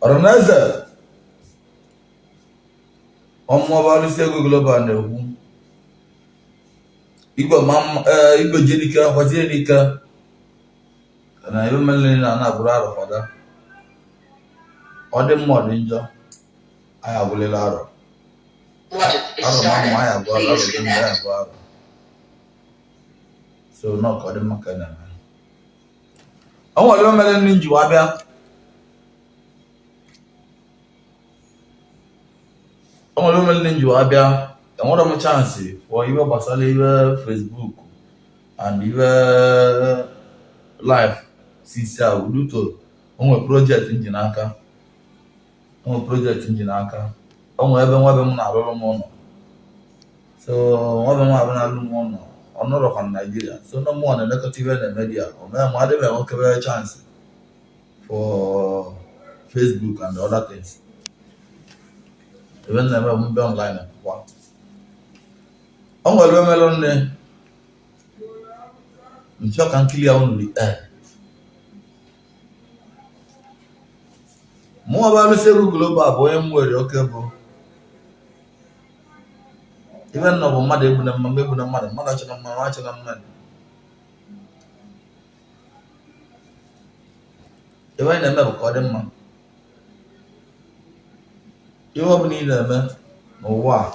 ọranaeze ọ mụ bụ alụsị ego global na-ekwu igwe eh, jenike gwazie n'ike na ebe mmele na ana agụrụ arọ fada ọ dị mma ọ dị njọ anyị agụlịlị arọ arọ ma mma anyị agụọ arọ dị mma anyị agụọ arọ so na ọka dị mma ka a na-eme o nwere ihe merenụ m ji wee bịa o nwere ihe merenụ m ji wee bịa enwerọ m chance for ihe gbasara ihe Facebook and ihe live since a due to o nwere project m ji n'aka ụmụ project m ji n'aka o nwere ebe nwabe m na-arụrụ m ụlọ so nwabe m ahụ na-alụ m ụlọ ọ nọrọkwa na naijiria so na mụ na-elekọta ife na media o mere m adịghị enwekebe chance for facebook and other things ife m na-eme bụ m bịa online kwa o nwere ife merenụ m chọ ka m kili ya unu dị mụ bụ alụsị egwu global bụ onye m nwere oke bụ ife m nọ bụ mmadụ egbuna mmadụ egbuna mmadụ mmadụ achọna mmadụ achọna mmadụ ife anyị na-eme bụ ka ọ dị mma ihe ọ bụla ị na-eme n'ụwa a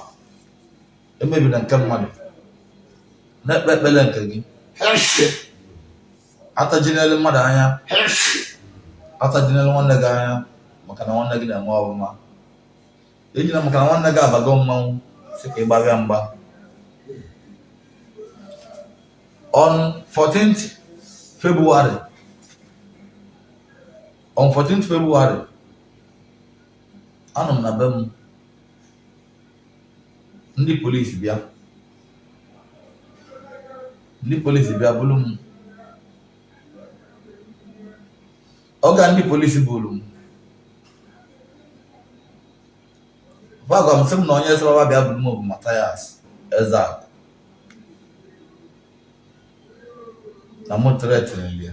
emebina nke mmadụ na-ekpe ekpere nke gị atajinelu mmadụ anya atajinelu nwanne gị anya maka na nwanne gị na-eme ọfụma ejina maka na nwanne gị abago mmanwụ sị ka ị gbawa ya mgba on 14th February on 14th February anọ m na be m ndị polisi bịa ndị polisi bịa buru m ọga ndị polisi buru m fa gwa m sị m na onye sịrị fa bịa buru m bụ Mathias Ezeaku na mụ threaten ya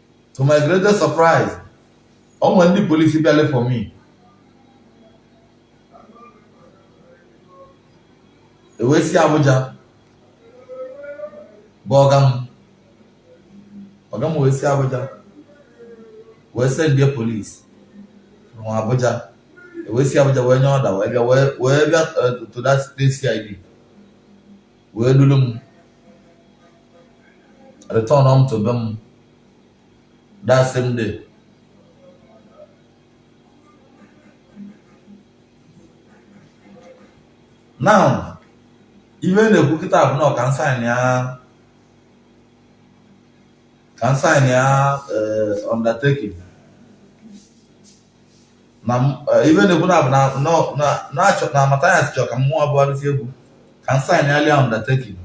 to my greatest surprise ọ nwere ndị police bịalụ for me e wee si Abuja kpọọ ọga m ọga m wee si Abuja wee sendia police n'Abuja e wee si Abuja wee nye order wee bịa wee bịa eh, to that state CID wee dulu m return m to be m that same day now ihe a na-ekwu kịta bụ na ọ ka m signịa ka m signịa eh, undertaking na eh, ive a na-ekwu na bụ na Mathias chọrọ ka mụwa bụ dịsi egwu ka m signịalị ya undertaking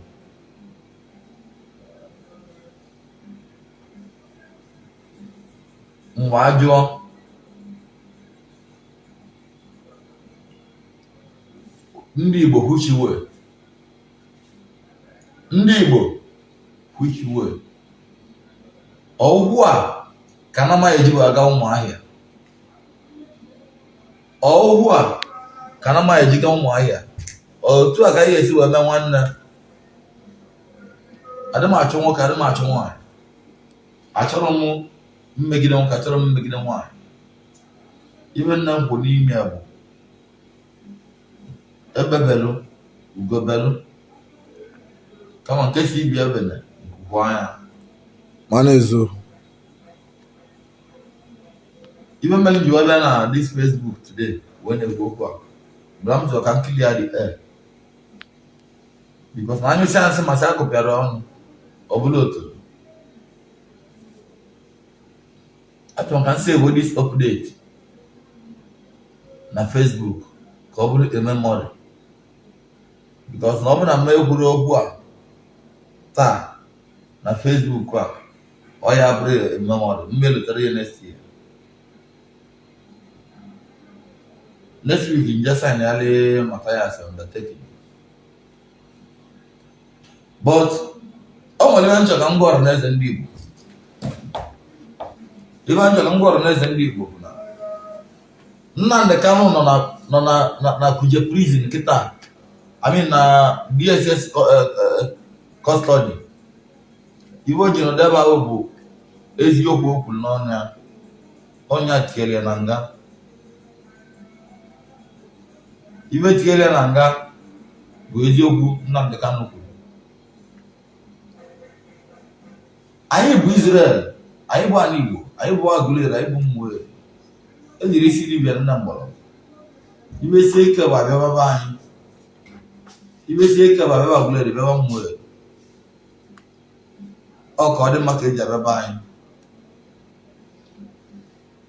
mgbe ajụọ ndị Igbo which way ndị Igbo which way ọ bụ otu a ka anyị nwa ya-eji wee aga Ụmụahịa otu a ka anyị nwa ya-eji ga Ụmụahịa otu a ka a ya-esi wee mee nwanne adị m achụ nwoke adị m achụ nwaanyị achọrọ m mmegide nwoke achọrọ m mmegide nwaanyị ive m na-ekwu n'ime ya bụ egbe belụ ugo belụ kama nke sị ibe ya ebena nku kwaa ya mana ezo ive mere m ji wee bịa na this Facebook today wee na-ekwu okwu a bụ na m sịrị ka m clear the air because na anyị sị asị m asị a kụpịara ọnụ ọ bụrụ otu achọrọ m ka m save this update na Facebook ka ọ bụrụ a memory because na ọ bụrụ na m ekwuru okwu a taa na Facebook a ọ ya-abụrụ memory mgbe m lotara ya next year next week m je signịalị Mathias undertaking but ọ nwere ihe m chọ ka m gwa ọra na eze ndị Igbo ihe m chọ ka m gwa ọra na eze ndị Igbo bụ na Nnamdị Kanu nọ na nọ na na na Kuje prison kịta I mean na DSS co- eh, eh, custody ihe o ji nọdụ ebe ahụ bụ eziokwu o kwuru n'ọnụ ya ọ nya tinyere ya na nga ihe tinyere ya na nga bụ eziokwu Nnamdi Kanu kwuru anyị bụ Israel anyị bụ ala Igbo anyị bụ Aguleri anyị bụ Ụmụeri ejiri isi dibịa nna mgbọrọ ihe sie ike bụ abịa be anyị ihe sie ike bụ abịa Aguleri bịa Ụmụeri ọ ka ọ dị maka eji abịa be anyị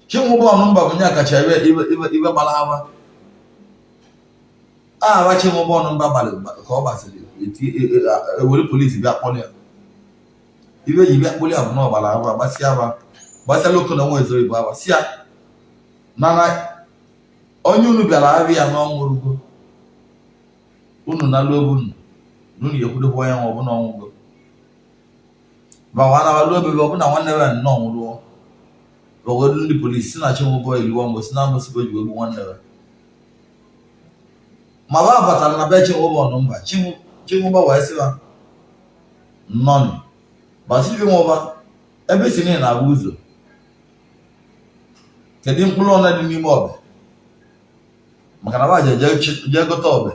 Chinwụba Ọnụmba bụ onye kacha ibe gbara aha agba Chinwụba Ọnụmba gbalị ka ọ gbasịrị ewere police bịa kpọrọ ya ihe e ji bịa kpọrọ ya bụ na ọ gbara aha gbasịa agba gbasịa loko na nwa ezoro igbo agba si ya nana onye unu bịara aha ya na ọ nwụrụgo unu na luo unu na unu ekwudokwa onye nwe ọbụla ọ nwụgo ma ọ anawa luo bebe ọbụla nwanne ya na ọ nwụrụ ọgọdụ ndị police si na Chinwụba liwa mgbe si na amụsịgo ji egbu nwanne ya ma ba batara na be Chinwụba Ọnụmba Chinwụba wee sị ha nnọọ nụ wa sịrị Chinwụba ebe ị sị na ị na-ahụ ụzọ kedu mkpụrụ ole dị n'ime ọbe maka na wa je jee gote ọbe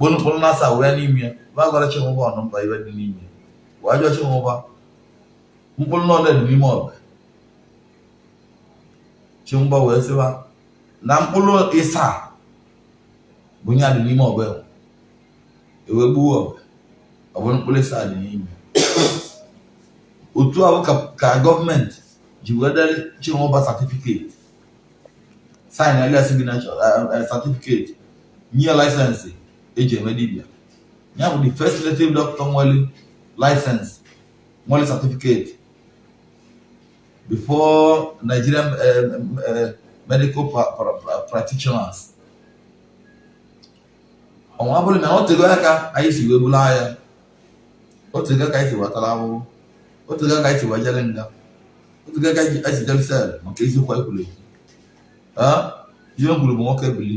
mkpụrụ na asaa dị n'ime ya wa gwara Chinwụba Ọnụmba ihe dị n'ime ya wee jụọ Chinwụba mkpụrụ na ole dị n'ime ọbe Chinwụba wee sị wa na mkpụrụ ịsaa bụ ya dị n'ime ọbe e wee gbuo ọbe ọ bụ mkpụrụ ịsaa dị n'ime otu ahụ ka government ji wee deere Chinwụba certificate signere signature certificate nye license eji eme dibịa ya bụ the first native doctor nwere license nwere certificate before Nigerian uh, uh, medical pra pra practitioners ọnwa bụrụ na o tego aka anyị si wee bụrụ anya o tego aka anyị si wee tara ahụhụ o tego aka anyị si wee jere nga o tego aka anyị si jere cell maka eziokwu anyị kwuru ekwu ihe m kwuru bụ nwoke bili